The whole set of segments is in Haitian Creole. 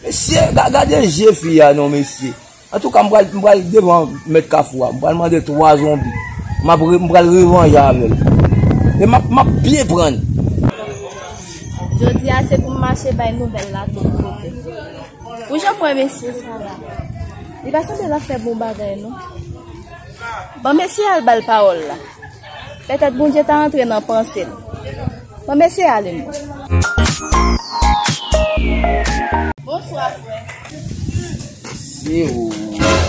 Mesye gade je fi a non mesye. Antouka m pral devan mèt kafou a. M pral mande 3 zonbi. M pral revanje avè l. E m ap byen prann. Jodi a se pou m mache bay nouvèl la tout kote. Pou jan m wè mesye sa la. Li pa sanble l ap fè bon bagay non. Bon mesye al ba l pawòl la. Petèt Bondye ta antre nan panse l. Bon m eseye ale m wè. Bonswa frè. Se ou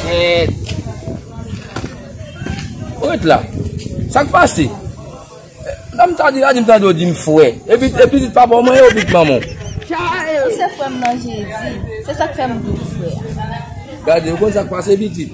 menm. Ou ret la. Sa k pase? Lè m ta di la di m tande ou di m frè. E pitit papa w mwen ye ou pitit manman w? Ou se frè m nan Jezi. Se sa k fè m di w frè. Gade ou konn sa k pase pitit.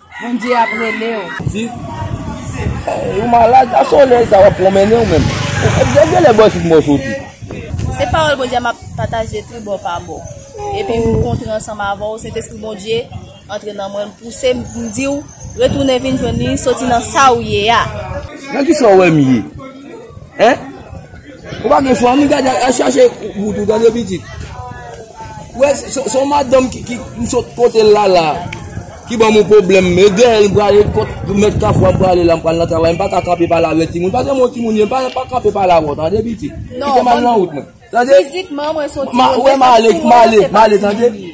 Bondye ap rele w. Di, Ou malad? Nan solèy sa a w ap pwonmennen ou menm? Gen gen lè bò isit mwen soti. Se pawòl Bondye m ap pataje tribò pa bò. Epi m kontre ansanm avè w, Sentespri Bondye antre nan mwen, m pouse m pou m di w, Retounen vin jwenn li, soti nan sa ou ye a. Nan kisa ou wè m ye? Hein? Ou pa gen chwa mi gade al chache bout ou tande pitit. Ou wè son madanm ki ki m sot kote lala ki ban m yon pwoblèm e dèyè l m prale kot mèt kafwa m prale la m pral nan travay m pa ka kanpe pale avèk timoun paske m yon timoun ye m pa ka kanpe pale avè w tande pitit kite m al nan wout mwen tande m ale m ale m ale tande.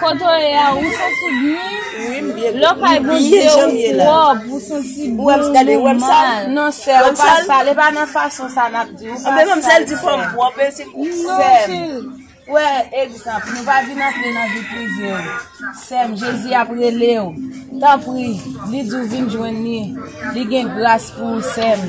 Kote w ye a ou santi byen? Lè w kay Bondye ou pwòp, ou santi bon, ou mal. Non sè, ou pa sal, e pa nan fason sa nap di, ou pa sal. Menm sèl di fòm pwòp e se kou pwòp. Non cheri. Ou wè egzanp, nou pa vin antre nan vi prive w. Sè m, Jezi ap rele w. Tanpri, li di w vin jwenn li. Li gen gras pou ou sè m.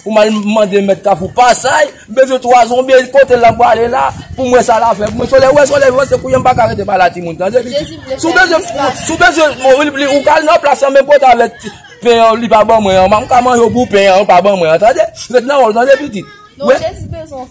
Pou m al mande mèt kafou pasay, m bezwen 3 zonbi, kote l ap prale la, pou m wè sa l ap fè pou mwen. Sole wè sole vwe, se pou yon m pa ka rete pa la timoun tande pitit. Si w bezwen, si w bezwen mori li ou ka al nan plas lan men pote avèk ti pen an li pa ban mwen an, m ka manje w pou pen an ou pa ban mwen an tande. Ret nan wè w tande pitit. Non Jezi bezwen w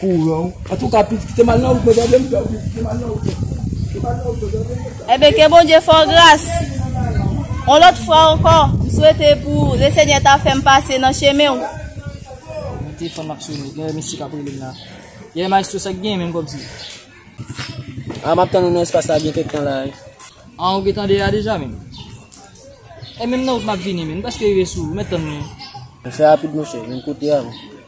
kouran ou antouka pitit kite mal nan wout mwen tande m freo pitit kite mal nan wout mwen kite mal nan wout mwen tande m Ebyen ke Bondye fè w gras yon lòt fwa ankò m swete pou le senyè ta fè m pase nan chemen w. Mwen te fanm ap sone gen yon mesye kap relem la yè maestro sak gen menm kòmsi. Ah map tann ou nan espas la gen kèk tan la wi. Ah ou gentan deyò deja menm. E menm nan wout map vini menm m preske rive sou ou mèt tann mwen. Fè rapid monchè menm kote avèm.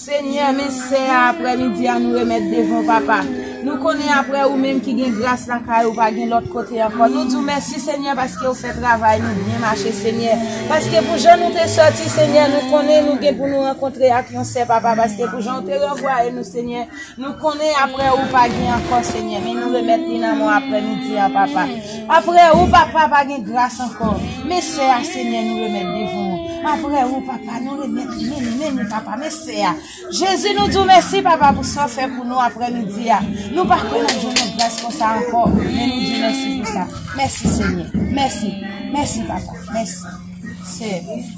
Senyè men sè a aprè midi a nou remèt devan w papa nou konnen aprè ou menm ki gen gras lakay ou pa gen lòt kote ankò nou di w mèsi senyè paske ou fè travay nou byen mache senyè paske pou jan nou te sòti senyè nou konnen nou gen pou nou rankontre ak yon sè papa paske pou jan ou te ranvwaye nou senyè Nou konnen apre ou pa gen ankò Senyè, men nou remèt li nan men w apre midi an papa. Apre ou papa pa gen gras ankò, men sè a Senyè nou remèt devan ou. Apre ou papa nou remèt li men li men li papa, men sè a. Jezi nou di w mèsi papa pou sa w fè pou nou apre midi a. Nou pa kwè nap jwenn yon gras konsa ankò, men nou di w mèsi pou sa. Mèsi Senyè. Mèsi. Mèsi papa. Mèsi. Sè.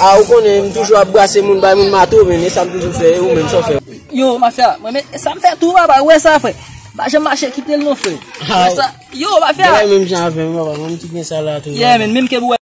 Ah ou konnen m toujou ap brase moun bay moun mato men e sam toujou fè e ou menm sa w fè. Yo mafya mwen men e sam fè tou papa ou wè sa frè pa janm mache kitel non frè ou wè sa yo mafya. Bagay menm jan avèm papa mwen menm ki gen sa la tou. Yeah menn menm keb ou wè.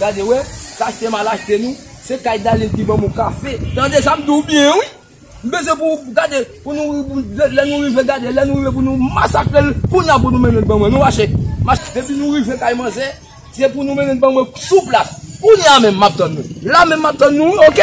Gade wè, sa se malachite nou, se kay Dalil ki ban mou kafe. Tande sa m di w byen wi. M bezwen pou w gade, pou nou lè nou rive gade, lè nou rive pou nou masakre l, kounye a pou nou mennen l ban mwen. Nou mache. Depi nou rive kay manzè, se pou nou mennen l ban mwen sou plas. Kounye a menm m ap tann nou. La menm m ap tann nou wi ok.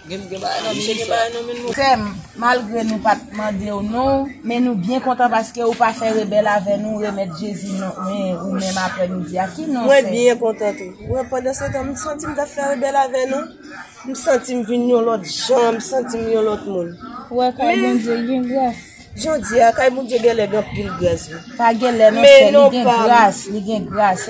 Sèm, malgre nou pat mandew non, men nou byen kontan paske ou pa fè rebèl avè nou remèt Jezi non men ou menm aprè midi a. Ki non sè? Mwen byen kontan tou. Mwen pandansetan m santi m tap fè rebèl avè nou, m santi m vin yon lòt jan, m santi m yon lòt moun. Ou wè kay Bondye gen gras. Jodi a kay Bondye genlè gen anpil gras wi. Pa genlè non sè, li gen gras, li gen gras.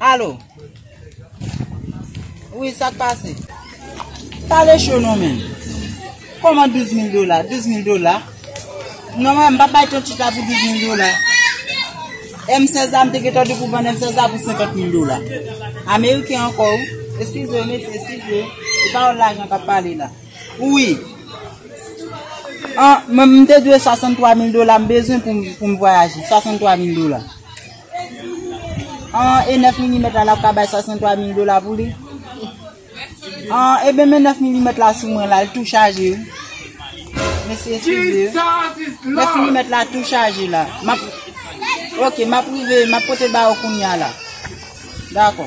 Alo. Wi, sa k pase? Pale cho non men. Koman 12 mil dola? 12 mil dola? Non men, m pa bay ton chita pou 12 mil dola. M16 la, m te getan di pou ban M16 la pou 50 mil dola. Ameriken anko ou. Eskize, mesye, eskize. Se pa ou lajan ka pale la. Wi. M te dwe 63 mil dola, m bezwen pou m vwayaje. 63 mil dola. An e 9 milimèt la lap ka bay 63 mil dola pou li? An e ben men 9 milimèt la sou mwen la l tou chaje wi. Mesi eskize. 9 milimèt la tou chaje la. Map Ok map rive map pote ba ou kounya la. Dakò.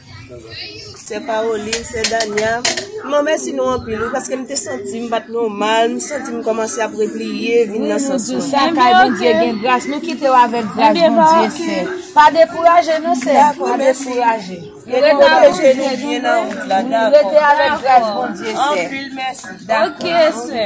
Sè Caroline, sè Dania, mwen mèsi nou anpil wi paske m te santi m pat nòmal, m santi m kòmanse ap repliye vin nan sans mwen. Sa kay Bondye gen gras, nou kite w avèk gras Bondye sè. Pa dekouraje non sè, pa dekouraje. Rete avèk gras Bondye sè. Ok sè.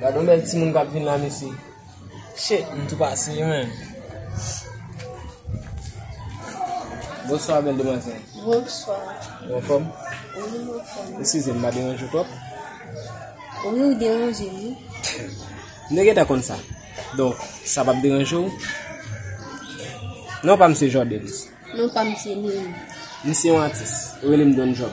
Gadon bèl timoun kap vin la mesye. Shit m tou pase yo menm. Bonswa bèl demwazèl. Bonswa. Ou anfòm? Wi m anfòm. Eskize m m pa deranje w twòp? Wi ou deranje m wi. M te gentan konn sa. Donk sa pap deranje w? Non pa m se Jordens. Non pa m se Nil. M se yon atis. Yo rele m Don Job.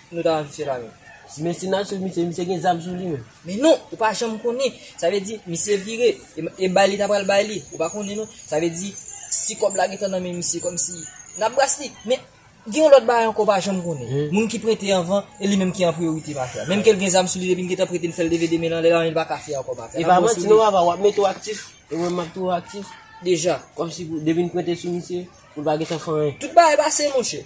Nou ta wè misye la menm. Men sinature misye, misye gen zam sou li menm. Men non, ou pa janm konnen. Sa vle di, misye vire, e bay li ta pral bay li. Ou pa konnen non. Sa vle di, si kòb la gentan nan men misye, kòm si, nan bras li. Men, gen yon lòt bagay ankò ou pa janm konnen. Moun ki prete anvan, e li menm ki an priyorite mafya. Menm ke li gen zam sou li, depi li gentan prete, li fè li leve de men l anlè, anyen li pa ka fè ankò mafya. E pa manti non papa, wap mete w aktif, e mwen map toujou aktif. Deja. Kòm si pou, depi n prete sou misye, nou pa gentan fè anyen. Tout bagay pase monchè.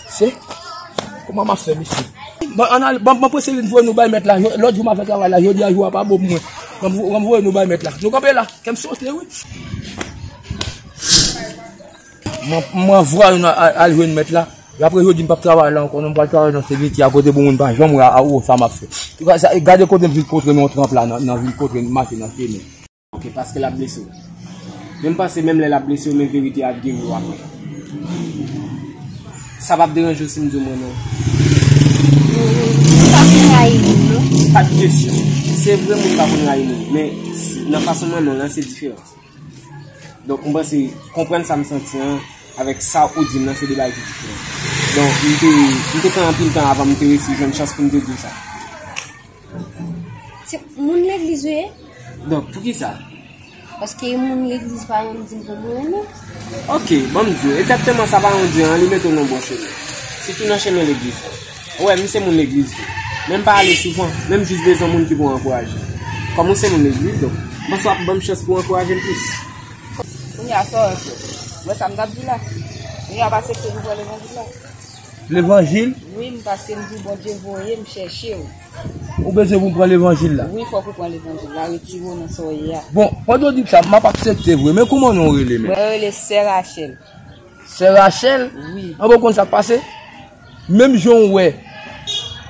Se, kouman ma fè mesi? Bon, an al, bon, bon pwese vin vwe nou bay met la, lòt jou ma fè travay la, jodi a jou a pa bon pou mwen. Bon, bon vwe nou bay met la. Nou kanpe la, kèm sote wi. Mwen, mwen vwe nou al jwen met la. Yo apre jodi m pap travay la ankò non, m pral travay nan semitye a kote pou moun pa janm wè a ou sa map fè. Gade kote m vin kontre nou an tranp la nan vin kontre nou mache nan pye nou. Ok paske lap blese w. Men m panse menm lè lap blese w men verite a ap geri w aprè. Sa pap deranje w si m di w m renmen w? M pa konn rayi moun non. Pa t kesyon. Se vre moun pa konn rayi moun. Men nan fason m renmen w lan se diferan. Donk m panse konprann sa m santi an avèk sa ou di m lan se 2 bagay ki diferan. Donk m te pran anpil tan avan m te resi jwenn chans pou m te di w sa. Se moun legliz ou ye? Donk, pou ki sa? Paske yon moun legliz pa yon di pou moun ane. Ok, bon m diyo, ekzakteman sa pa yon di an, li mete w nan bon chemen. Sitou nan chemen legliz la. Ou wè, m se moun legliz tou. Men m pa ale souvan, men m jis bezwen moun ki pou ankouraje m. Kòm ou se moun legliz, donk, m panse w ap ban m chans pou w ankouraje m plis. Kounye a, sa w wè? Wè sa m t ap di w la? Kounye a, w pa aksepte pou w pran levanjil la? Levanjil? Wi m paske m di Bondye voye m chèche w. Ou bezwen pou m pran levanjil la? Wi fòk ou pran levanjil la retire w nan sa w ye a. Bon pandan w di m sa m ap aksepte vre men kouman non w rele menm? Mwen rele sè Rachèl. Sè Rachèl? Wi. Anben w konn sa k pase? Menm jan w wè.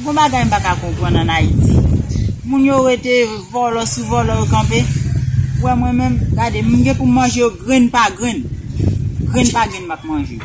Gon bagay m pa ka konprann an Ayiti. Moun yo rete vòlò sou vòlò yo kanpe. Ou wè mwen menm, gade, m gen pou m manje yo grenn pa grenn. Grenn pa grenn m ap manje yo.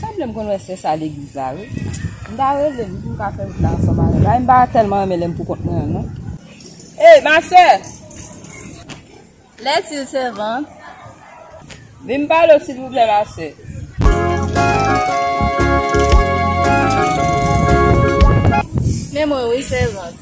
Sanble m konn wè sè sa legliz la wi. M ta rele li pou m ka fè wout la ansanm avè l. Ay m pa tèlman renmen lè m poukont mwen an non. Ey ma sè! Lè ti l sèvant. Vin m pale w silvouplè ma sè. Men mwen wi sèvant.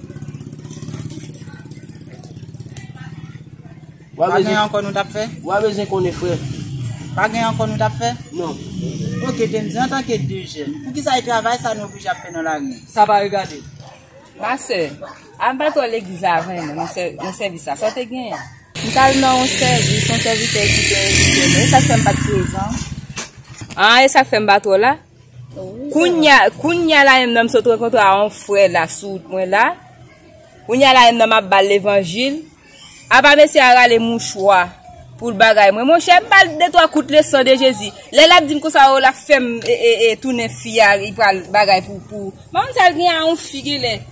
Pa gen ankò nou tap fè? Wap bezwen konnen frè. Pa gen ankò nou tap fè? Non. Ok Dendy, antanke 2 jèn, poukisa e travay sa nou oblije ap fè nan lari? Sa pa regade nou. Ma sè, al bat wòl legliz la avè mwen nan sèvis la. Sa w te genyen? M tal nan yon sèvis, yon sèvitè ki te envite m. E sak fè m pat prezan? An, e sak fè m bat wòl la? Kounya, kounya la menm nan m sot rankontre a yon frè la sou wout mwen la, kounya la menm nan m ap ba l levanjil, apa mesye a rale mouchwa pou l bagay mwen, monchè m ba l de twa kout le san de Jezi, lè l ap di m konsa o l ap fè m tounen fi a li pral bagay pou, m pa konn sa l gen a yon fi genlè.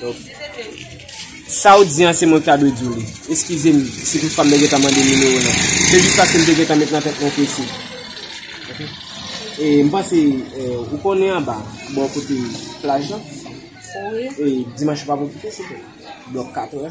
Donk, sa ou di an se mwen ki ta dwe di w li. Eskize m si tout fwa m te gentan mande nimewo nan. Se jis paske m te gentan met nan tèt mwen ke se. Ok. E m panse, ou konnen anba, bò kote plaj lan, e dimanch ou pa pou kite se te. Blòk 4 wè.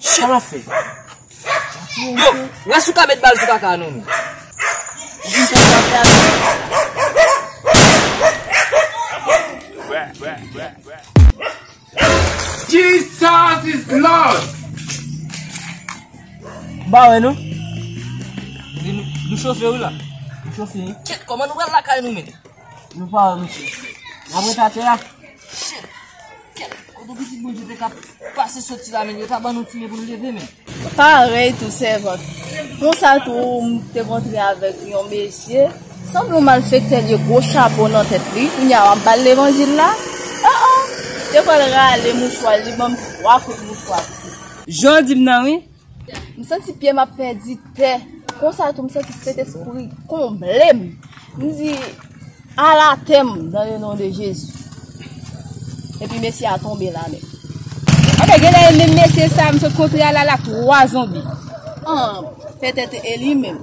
Sa wap fè? Wè si w ka met bal sou kaka a non menm. Jis lè sa fè ak ou. Jesus is Lord! Ba wè non. Nou chofe ou la? Nou chofe. Kèt kòman nou pral lakay nou menm? Nou pa wè misye. Nap ret atè a. Shit. Kèt. Kote pitit moun ki te ka pase soti la men yo ta ban nou ti men pou nou leve men. Parèy tou sèvant. Konsa tou m te kontre avèk yon mesye. Sanble yon malfektè li gwo chapo nan tèt li. Kounya wap bal levanjil la. Oh oh. Te pral rale mouchwa li banm 3 kout mouchwa tou. Jan w di m nan wi. M santi pye m ap pèdi tè. Konsa tou m santi Sentespri konble m. M di, Ala tè m nan le non de Jezi. Epi mesye a tonbe la nèt. Ok, genlè e menm mesye sa m sot kontre a la la 3 zonbi. An, petèt e li menm.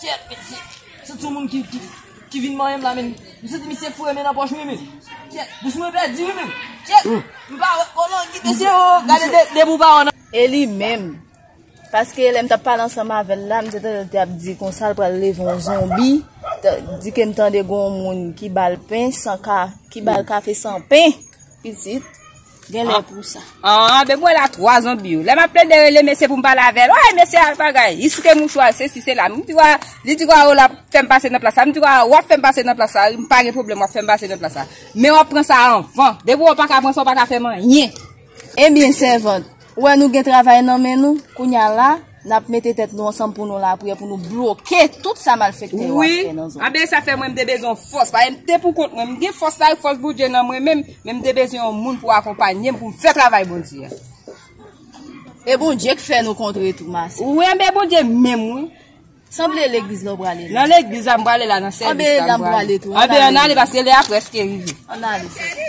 Kyèt men se se ti moun ki ki ki vin manyen m la men m santi misye foure men nan pòch mwen men kyèt bouch mwen pèdi wi men kyèt m pa wè o non kite se o gade de de pou pa wè nan E li menm? Paske lè m t ap pale ansanm avè l la, m te tande l te ap di konsa l pral leve yon zonbi, ta, di ke m tande gen yon moun ki ba l pen san ka, ki ba l kafe san pen, pitit. Gen lè pou sa. An, be mwen la 3 zonbi yo. Lè m ap plede rele mesye pou m pale avè l. Oye mesye al bagay. Li site mouchwa l, se si se la. M di wa, li di wa ou la fè m pase nan plas la. M di wa ou ap fè m pase nan plas la. M pa gen pwoblèm ou ap fè m pase nan plas la. Men w ap pran sa anvan. Depi w pa ka pran sa w pa ka fè m anyen. Ebyen sèvant, Ou wè nou gen travay nan men nou, kounya la, nap mete tèt nou ansanm pou nou lapriyè pou nou bloke tout sa malfektè yo ap fè nan zòn. Wi, anben sa fè mwen mte bezwen yon fòs, paske mte pou kont mwen, mgen fòs la, fòs Bondye nan mwen menm, men mte bezwen yon moun pou akonpanyem poum fè travay Bondye a. E Bondye k fè nou kontre tou ma sè. Wi anben Bondye menm wi. Sanble legliz la ou prale la. Nan legliz la m prale la nan sèvis la m prale. Anben nan m prale tou. Anben an ale paske lè a preske rive. An ale sè.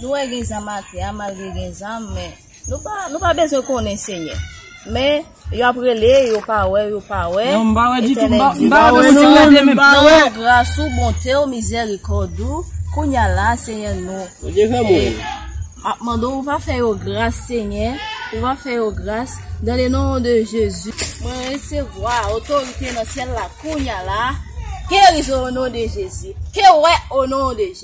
Nou wè gen zam atè a malgre gen zam men nou pa bezwen konnen senyè men yo ap rele yo pa wè yo pa wè etènèl di nou nan gras ou bonte ou mizèrikòd ou kounya la senyè nou ap mande ou pa fè yo gras senyè ou pa fè yo gras nan le non de jezi mwen resevwa otorite nan syèl la kounya la gerizon o non de jezi ke wè o non de jezi.